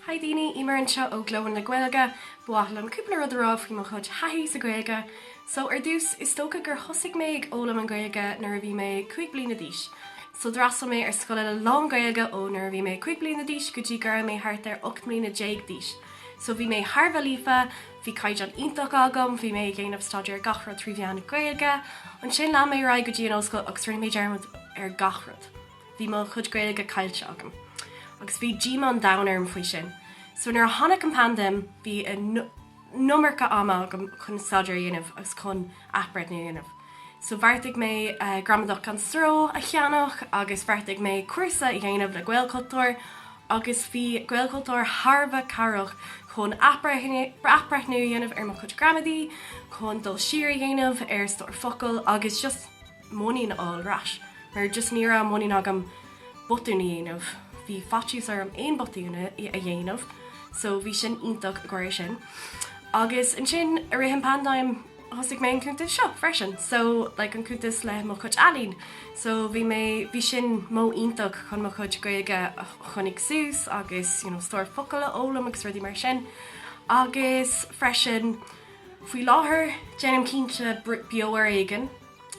Hi daoine, Eimear anseo ó Glóin le Gaeilge. Ba mhaith liom cúpla rud a rá libh faoi mo chuid taithí sa Ghaeilge. So ar dtús, is dócha gur thosaigh mé ag fhoghlaim an Ghaeilge nuair a bhí mé cúig bliana d'aois. So d'fhreastal mé ar scoileanna lán Gaeilge ó nuair a bhí mé cúig bliana d'aois go dtí go raibh mé thart ar ocht mbliana déag d'aois. So bhí mé thar a bheith líofa, bhí caighdeán iontach agam, bhí mé ag déanamh staidéar ar gach rud trí mheán na Gaeilge. Ansin lean mé ar aghaidh go dtí an ollscoil agus rinne mé dearmad ar gach rud. Bhí mo chuid Gaeilge caillte agam agus bhí díomá an domhain orm faoi sin. So nuair a tháinig an phaindéim, bhí an iomarca ama agam chun staidéar a dhéanamh agus chun athbreithniú a dhéanamh. So bheartaigh mé Gramadach gan Stró a cheannach agus bheartaigh mé cúrsa a dhéanamh le Gaelchultúr agus bhí Gaelchultúr thar a bheith cabhrach chun athbreithniú a dhéanamh ar mo chuid gramadaí, chun dul siar a dhéanamh ar stór focal agus just. muinín a fháil ar ais, mar just ní raibh muinín agam botún a dhéanamh. Bhí faitíos orm aon botún a dhéanamh, so bhí sin iontach i gcomhair é sin. Agus ansin, i rith an paindéim, thosaigh mé an cuntas seo freisin, so like an cuntas le mo chuid ealaín. So bhí mé, bhí sin modh iontach chun mo chuid Gaeilge a choinneáil suas agus you know stór focal a fhoghlaim agus rudaí mar sin. Agus freisin, faoi láthair, déanaim cinnte Beo ar Éigean.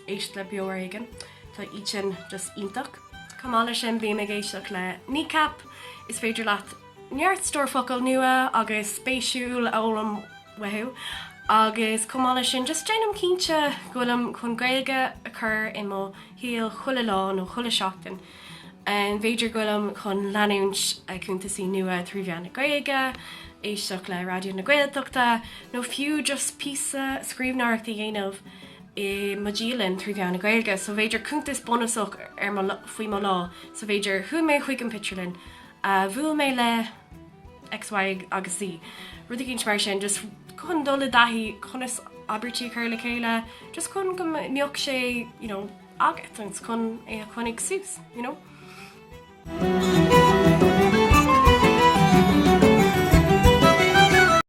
éist le Beo ar Éigean, tá iad sin just iontach. Chomh maith leis sin bím ag éisteach le Kneecap, is féidir leat neart stór focal nua agus spéisiúil a fhoghlaim uathu. Agus chomh maith leis sin just déanaim cinnte go bhfuilim chun Gaeilge a chur i mo shaol chuile lá nó chuile seachtain. B'fhéidir go bhfuilim chun leanúint ag cuntasaí nua trí mheán na Gaeilge, éisteach le Raidió na Gaeltachta nó fiú just píosa scríbhneoireacht a dhéanamh i mo dhialann trí mheán na Gaeilge, so b'fhéidir cuntas bunúsach ar mo faoi mo lá, so b'fhéidir chuaigh mé chuig an pictiúrlann, bhuail mé le X, Y agus Z, rud éicint mar sin, just chun dul i dtaithí conas abairtí a chur le chéile, just chun go mbeadh sé, you know, agat agus chun é a choinneáil suas, you know.